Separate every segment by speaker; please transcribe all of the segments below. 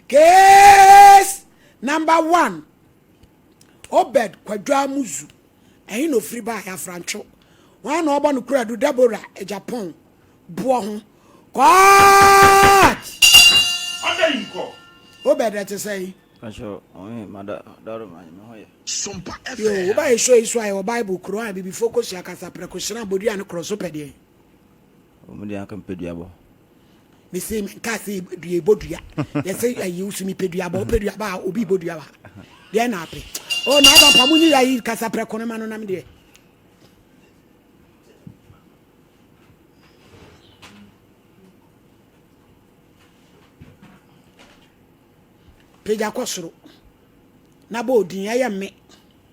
Speaker 1: Case number one, Obed Kwadwoamuzu, ɛhe na ofiri baeɛ Afrantwo, wɔn na ɔbɔ no kuradu Deborah Agyapong boɔ ho. Court!
Speaker 2: Ɔda yi nkɔ. Obed ɛte sɛ
Speaker 1: yi. Ahyɛ ɔhe
Speaker 3: mada daro ma me ho yɛ. Sompa
Speaker 2: FM. Yo, woba yɛ
Speaker 1: show yi so ayɛ wɔ Bible kuro a bibifo kosua kasaprɛ kohyerɛn abodua ne korɔso pɛdeɛ. Ɔmo
Speaker 3: deɛ anka mepɛ duabɔ. Me se
Speaker 1: me nka se dua ebɔ dua. Yɛ se ayi wosu mi pɛ duabɔ. Wopɛ duabɔ a obi bɔ dua wa. Deɛ na apɛ. Oh na aba mpa mo nyi ya yi kasa prɛ kɔnɔ ma no nam deɛ. Pagya kɔ soro. Na bɔ odin ɛyɛ mme.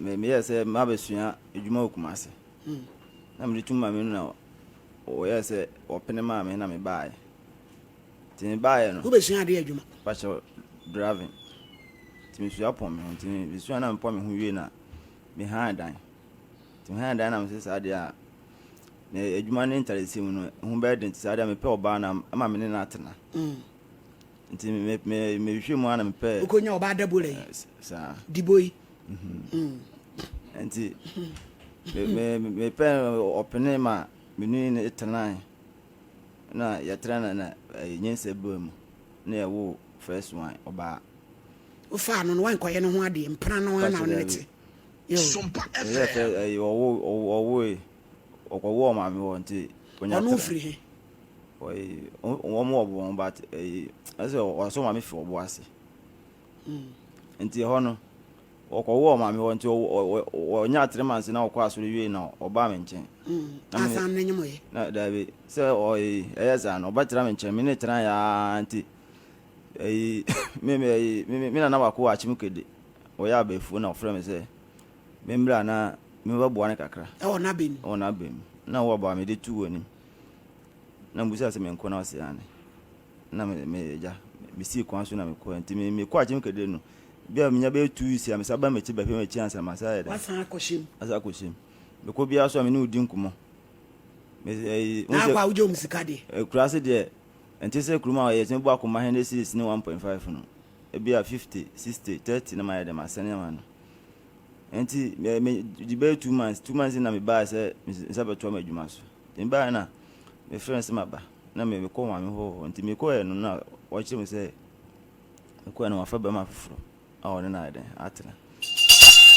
Speaker 3: Meyɛɛ sɛ mabɛsua adwuma wɔ Kumasi na mede tum ma me nuna na wɔyɛɛ sɛ wɔpene maa me na mebaeɛ. Nti mebaeɛ no. Wobɛsua adeɛ adwuma?
Speaker 1: Pakyɛ
Speaker 3: driving. Nti mesua pɔn me ho. Nti mesua na mepɔn me ho wie na mehan dan. Nti mehan dan na mesɛ saa deɛ a na adwuma ne ntaresi mu no ho bɛyɛ den nti saa deɛ mepɛ ɔbaa na ama me ne no atena. Mm. Nti mehwehwɛ mu a na mepɛ. Wokɔnya ɔbaa dabora yi?
Speaker 1: Saa. Dibo
Speaker 3: yi. nti mepɛ ɔpene ma menu ne tenae na yɛtena na na nyansa bɔ mu na yɛwo first one ɔbaa wofaa
Speaker 1: no no wankɔyɛ no ho adeɛ mpena no ana wo ne
Speaker 2: te ɔwoe
Speaker 3: ɔkɔwo ɔmaame wɔ nti ɔno firi
Speaker 1: he
Speaker 3: wɔn wɔ bɔn but ɛsɛ wɔsɔ maame fi ɔbo ase Nti ɛhɔ no, wɔkɔwoo ɔmaame hɔ nti ɔnya atere manse na ɔkɔ asɔre wie na ɔbaa me nkyɛn. Asan ne nyɛ
Speaker 1: mo yɛ. Na daabi sɛ
Speaker 3: ɔyi ɛyɛ saa no ɔbɛtra me nkyɛn me ne tena yɛ ara nti ɛyi me me ɛyi me me nana baako wɔ akyem kedi ɔyɛ abɛɛfuo na ɔfrɛ me sɛ me mbra na me ba bua ne kakra. Ɛwɔ n'abɛn mu. Ɛwɔ
Speaker 1: n'abɛn mu na wɔ
Speaker 3: ɔbaa me de tu wɔ anim na mbusa sɛ me nko na ɔsɛ ane. na me me agya mesii kwan so na mekɔɛ nti me mekɔ akyem kɛdɛ no bi a menya bɛyɛ two weeks a mesa ba m'akyi bɛhwɛ m'akyi ansa masa ayɛ dɛ wasan akɔhyem asa
Speaker 1: akɔhyem
Speaker 3: mekɔ biara so a me ne wodi nkɔmmɔ na akɔ a wogye wɔn
Speaker 1: sika deɛ eh, kura ase deɛ
Speaker 3: ɛnte sɛ kurom a yɛtumi bɔ akoma hɛn series ne 1.5 no ebi a 50 60 30 na mayɛ dɛ masɛne ama no nti megye bɛyɛ two months two months na mebaa sɛ nsa bɛtoa m'adwuma so nti mebaa na mefrɛ no sɛ maba Na me mekɔ maame hɔ hɔ nti me kɔɛ no na wɔkyerɛ me sɛ me kɔɛ no wafa bɛma foforo a wɔne no ayɛ dɛn atena.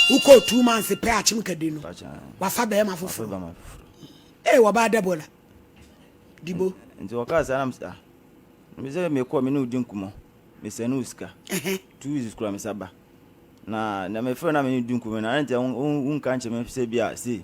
Speaker 3: Wokɔ
Speaker 1: two months pɛ akyem kadi no wafa bɛma foforo ee wɔbaa dɛbola dibo. Nti wɔkaa
Speaker 3: saa na me sɛ ah me sɛ me kɔ me ne odi nkumɔ me sɛ no sika two weeks kura me saba na na me fɛ na me ne odi nkumɔ na nti wonka nkyɛ me sɛ bi a sei.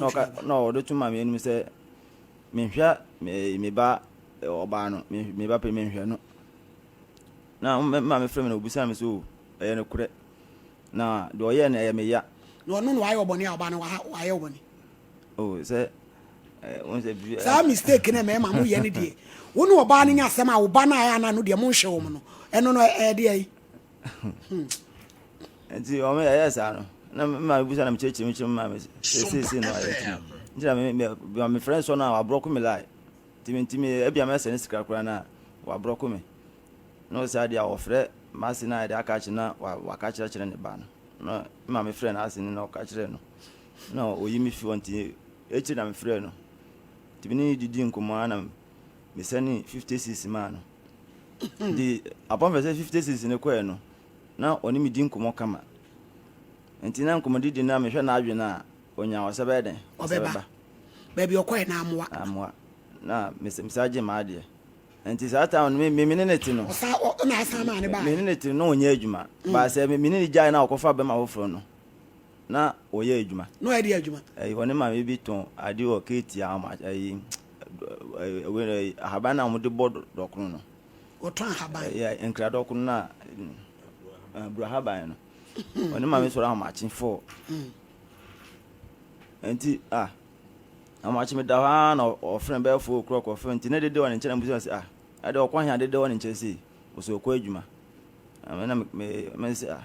Speaker 3: na ɔka na ɔde to ma me anim sɛ menhwɛ me me ba ɔbaa no me me ba pɛ menhwɛ no na ma me frɛ me na obisa me so ɛyɛ no korɛ na deɛ ɔyɛ no ɛyɛ me ya na ɔno na wayɛ ɔbɔne
Speaker 1: a ɔbaa no wayɛ ɔbɔne
Speaker 3: o oh, sɛ eh, saa mistake na
Speaker 1: mɛma mo yɛ no deɛ wo ne ɔbaa no nya asɛm a wo ba no ayɛ ana no deɛ monhwɛ wɔm no ɛno no ɛdeɛ
Speaker 3: nti ɔmo yɛ yɛ saa no na me maame busa na mekyerɛkyerɛ mu kyerɛ me maame sɛsɛsɛ no ayɛ tiri nti na me me me frɛ nsɔ no a wabrɔko me lai nti me nti me ebi ama ɛsɛ ne sikira koraa na wabrɔko me na ɔsɛ adeɛ a wɔfrɛ maase na yɛde aka akyerɛ na waka kyerɛkyerɛ ne ba no na maame frɛ no ase no na ɔka kyerɛ no na oyi me fi hɔ nti ekyir na me frɛ no nti me ne didi nkɔmɔ anam. mesɛnee fifty cedis maa no. Nti upon fɛ sɛ fifty cedis no kɔɛ no, na ɔne me di nkɔmmɔ kama. Nti na nkɔmmɔdidi no a mehwɛ n'adwene a, ɔnya ɔsɛ bɛyɛ dɛn? Ɔsɛ bɛba.
Speaker 1: Baabi ɔkɔɛ no amoa. Amoa.
Speaker 3: Na mesaa gye m'adeɛ. Nti saa time no, me ne ne te no. Ɔsaa na asan maa
Speaker 1: ne baa. Me ne ne te no, na ɔnyɛ adwuma.
Speaker 3: Baa sɛ me ne ne gyae na ɔkɔfa bɛma foforɔ no. Na wɔyɛ adwuma. Na wɔyɛ deɛ adwuma. Ɛyi
Speaker 1: wɔne maame bi
Speaker 3: tɔn ade wɔ Katie ama ɛyi ɛyi ahaban na wɔde bɔ dɔkono no. Wɔtɔn ahaban.
Speaker 1: Ɛyɛ nkira dɔkono
Speaker 3: na aburo ahaban no. Wɔne maame sɔrɔ ahomakye fɔ. Nti ah ahomakye mi da hɔ ara na ɔfrɛ bɛyɛ fo okura ɔkɔ fɛ nti ne dede wɔ ne nkyɛn na busa sɛ ah ɛde ɔkɔ hɛn adede wɔ ne nkyɛn sei wɔsɛ ɔkɔ adwuma. Ɛna me me me sɛ ah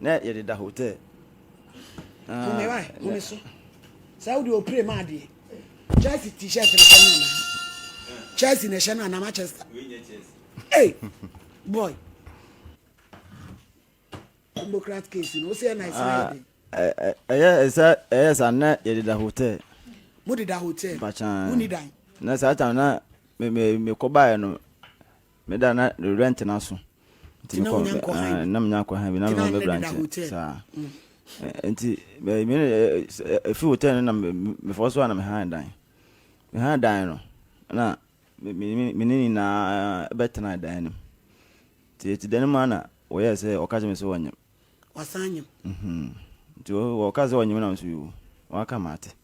Speaker 3: Na yɛde da hotel.
Speaker 1: Home wa home so. Saa wode opire ma adeɛ. Chelsea t-shirt na hyɛ no anaa. Chelsea na hyɛ no anaa Manchester. Hey boy. Democrat case no ose na ese na yɛde. Ɛyɛ ɛsɛ
Speaker 3: ɛyɛ sa na yɛde da hotel. Mo de da
Speaker 1: hotel. Bachan. Mo ni dan.
Speaker 3: Na saa
Speaker 1: tam na
Speaker 3: me me me kɔbaeɛ no Me da na rewura ntena so. Nti na wonya nkɔ han bi. Na menya nkɔ han bi na mema mebra nkyɛn saa. Nti efi hotel no na mefɔ so a na me han dan. Me han dan no na me ne nyinaa bɛtena dan no mu. Nti yɛte dan no mu a na wɔyɛɛ sɛ wɔka kyerɛ me sɛ wɔnyem.
Speaker 1: wasan
Speaker 3: anyem. Nti wɔka sɛ ɔnyem nam so yi o, waka mate.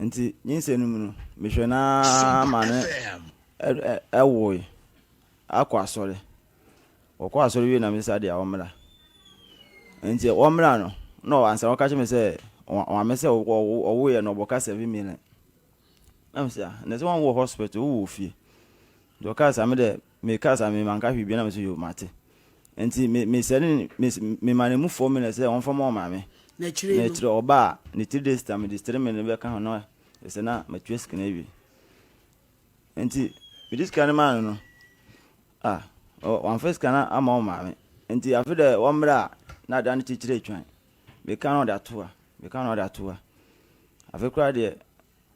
Speaker 3: Nti nyinsɛ no mu no, mehwɛ no ara ma no ɛwoe akɔ asɔre. Wɔkɔ asɔre wie na me sa deɛ wɔmmra. Nti wɔmmra no, na ansa wɔka kyerɛ me sɛ wɔame sɛ ɔwoeɛ no ɔbɔka seven million. Na me sɛ, na sɛ wɔn wɔ hospital, wowɔ ofie. Nti wɔka sɛ me dɛ Me kaa saa me manka hwee biaa na me se yoo mate nti me me sɛne me me ma no mu four minutes sɛ wɔnfa ma wɔn maame na akyire no na akyire
Speaker 1: ɔba a ne three
Speaker 3: days time de three minutes bɛka ho na ɛsɛ na matua sika no awie nti me de sika no maa no no ah wɔn fa sika no ama wɔn maame nti afe dɛ wɔn mmerɛ a na adan no kyekyere atwan me ka na ɔde ato ha me ka na ɔde ato ha afe koraa deɛ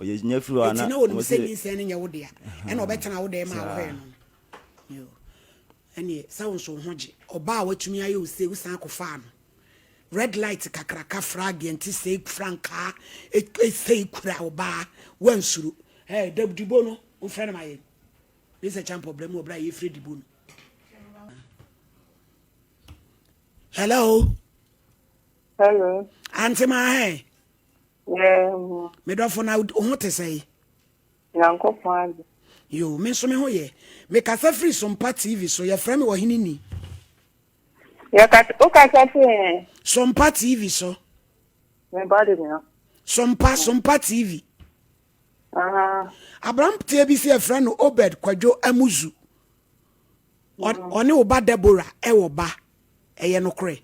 Speaker 3: Enti na onim sɛ nyinsɛn no
Speaker 1: nyɛ wo dea, ɛna ɔbɛtena wo dɛm a wohwɛɛ no no. Yoo, ɛnneɛ sɛ wo nso wo ho gye. Ɔbaa a watumi ayɛ wo sei, wosan kɔfaa no. Red light kakraka fra adeɛ nti sei frankaa sei kura ɔbaa, woansuro. Ɛɛ, da dibo no, womfrɛ no ma yɛn. Me sɛ Champo brɛ me wɔ berɛ a yɛrefrɛ dibo no. Hello? Hello? Auntie Mahe? Yɛɛm. Me dɔfo na wo ho te sɛe? Nyankopɔn
Speaker 4: ade. Yo,
Speaker 1: me nso me ho yɛ. Mekasa firi Sompa TV so, yɛfrɛ me Ɔhene Ni.
Speaker 4: Yɛkasa, wokasa firi? Sompa TV
Speaker 1: so. Me ba
Speaker 4: de nua. Sompa, Sompa
Speaker 1: TV. Aberanteɛ bi si yɛfrɛ no Obed Kwadwo Amuzu. Ɔne wo ba Deborah ɛwɔ ba. Ɛyɛ nokorɛ.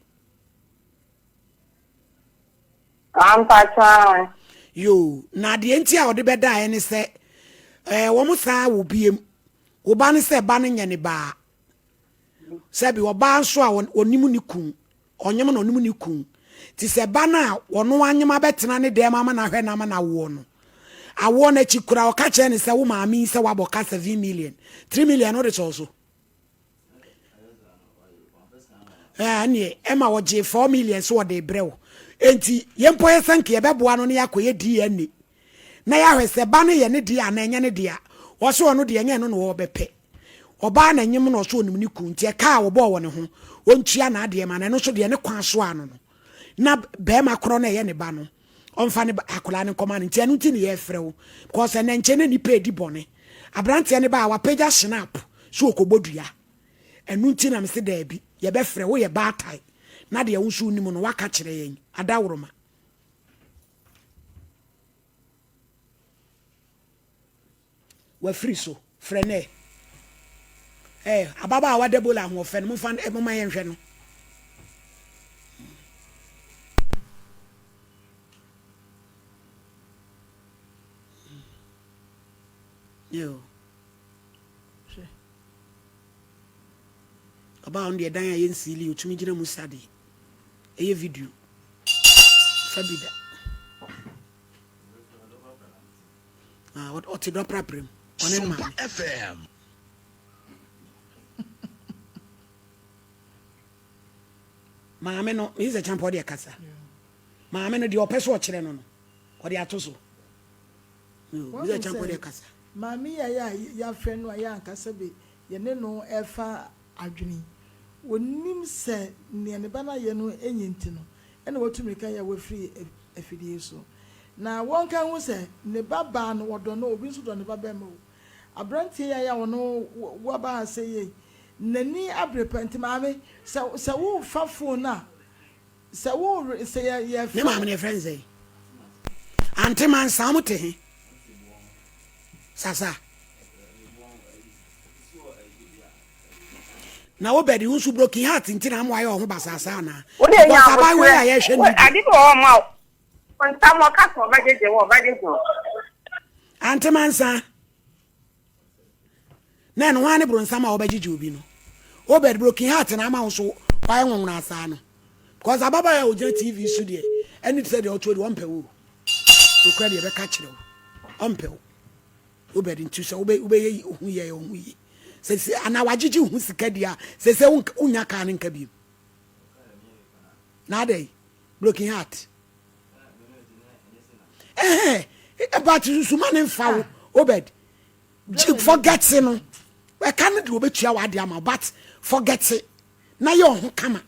Speaker 4: yoo na
Speaker 1: adeɛ nti a ɔde bɛdaeɛ ne sɛ ɛɛ wɔn saa wɔ biem wo ba ne sɛ ba no nyɛ ne baa sɛbi ɔbaa nso a ɔnim ne kun ɔnyem na ɔnim ne kun te sɛ ba no a ɔno anyem abɛtena ne dɛm ama no ahwɛ no ama no awoɔ no awoɔ no akyi kura ɔka kyerɛ ne sɛ wo maame yi sɛ wabɔ ka seven million three million no de sɔɔ so. ɛneɛ ɛma wɔgyee four million so wɔde brɛ wo enti yɛn mpo yɛ sɛ nka yɛbɛboa no ne yɛakɔyɛ dna na yɛahwɛ sɛ ba no yɛ ne deɛ anaa ɛnyɛ ne deɛ wɔsɛ ɔno deɛ ɛnyɛ no na wɔbɛpɛ ɔbaa na nyem na ɔsɛ ɔnim ne kunu nti ɛka a wɔbɔɔ wɔ ne ho ɔntua n'adeɛ ma no ɛno nso deɛ ne kwan so ano no na bɛrima korɔ no ɛyɛ ne ba no ɔmfa ne ba akwadaa no nkɔma no nti ɛno nti ne yɛfrɛ wo because ɛnɛ nkyɛn na nipa edi bɔne aberanteɛ no ba a wapagya shinap so okɔbɔ dua ɛno nti na mese daabi yɛbɛfrɛ wo yɛ baatae na deɛ wo nso wonim no waka kyerɛ yɛn adaworoma Wafiri so. Frɛ no ɛ. Ɛ, ababaawa Debola ahoɔfɛ no, momfa no ɛ, momma yɛnhwɛ no. Yoo. Hwɛ. Ɔbaa no deɛ dan a yɛnsiili, ɔtumi gyina mu sa deɛ. Ɛyɛ video. Fa bi da. Ah, ɔte dɔ prapra mu. Ɔne ne maame. FM. maame no meyi sɛ kyampa ɔde ɛkasa maame no deɛ ɔpɛ so ɔkyerɛ no no ɔde ato so meyi sɛ kyampa ɔde ɛkasa maame yɛ yɛ
Speaker 5: yɛafrɛ no a yɛ ankasa bi yɛne no refa adwene. Ɔnnim sɛ nea ne ba no ayɛ no nye nti no na watu mmirika yɛ wafiri afidie so. Na wɔnka nhu sɛ ne ba baa no, ɔdɔ no o, obi nso dɔ ne ba barima o. Aberanteɛ yi a yɛ a ɔno waba ha sɛ yei, n'ani abere paa nti maame, sɛ worefa fon a, Sɛ wo were sɛ yɛ yɛ fɛ. Ne maame no yɛ fɛ nsɛn.
Speaker 1: Ante man saa ɔmo te he? Sasa. Na wo bɛdi wo nso broken heart nti na ɔmo ayɛ ɔho basasa ana. But abayewa
Speaker 4: yi a yɛhwɛ ne bi.
Speaker 1: Ade bi wɔ ɔmo a.
Speaker 4: Ntam ɔka sɛ ɔbɛgyegye wo ɔbɛgyegye
Speaker 1: wo. Ante man saa. na ɛno ara ne bronsam a wɔbɛgyegye obi no obed broken heart na ama wo so wayɛ nwonwona saa no because ababaawa a ogyina tv so deɛ ɛne te sɛ deɛ ɔtoɔ deɛ ɔmpɛ wo nokora deɛ ɛbɛka kyerɛ wo ɔmpɛ wo obed nti sɛ wobɛyɛ ohu yɛ ohu yi sɛsɛ anaa wagyegye ho sika di a sɛsɛ wonya kaa no nka bi na adɛn broken heart ɛhɛn ɛba ti nso ma ne nfa wo obed gye forget no ɛka no de obetua wɔ ade ama but forget na yɛ ɔho kama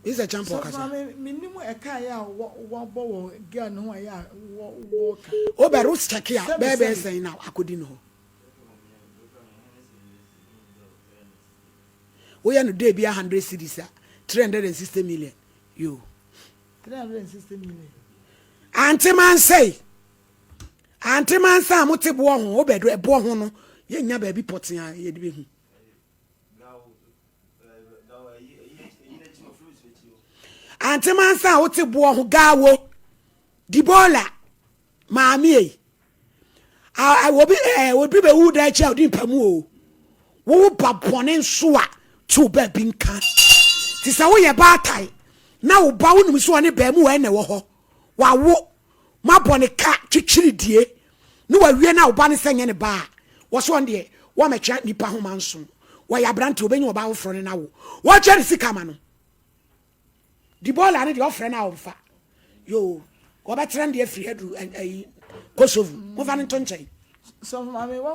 Speaker 1: Mr. Champo kasa. Menim ɛka
Speaker 5: yɛ a wɔbɔ wɔ girl no ho a yɛ a wɔka. O bɛro check
Speaker 1: a bɛɛ bɛɛ sɛn na akɔdi no hɔ. Woyɛ no dɛ biara hundred cedis a, three hundred and sixty million. Yoo. Three hundred and
Speaker 5: sixty million. Ante
Speaker 1: mansɛe. Ante mansa a mote boɔ ho, wobɛdo ɛboɔ ho no, yɛnya baabi pɔtee a yɛde bɛhu. Ante mansa a wote boɔ ho, gawo, dibola, maame ei. Obi obi bɛwu da akyi a ɔdi mpa mu o. Wo ba bɔne nso a to wo baabi nka. Te sɛ woyɛ baatae na wo ba wonim so ɔne baa mu wɔ ɛna wɔ hɔ. Wawo ma bɔne ka twitwiri die ne wawie na wo ba ne sɛ nyɛ ne ba a wɔsɛ ɔn deɛ wɔmɛtwa nipa ho ma nso wɔyɛ aberante obɛnya ɔbaa foforɔ ne no awo wɔkyɛ ne sika ma no Di bɔɔla no deɛ ɔfrɛ no a ɔmfa. Yoo wɔbɛkyerɛ no deɛ firi aduru ayi Kosovo. Mofa no nto nkyɛn.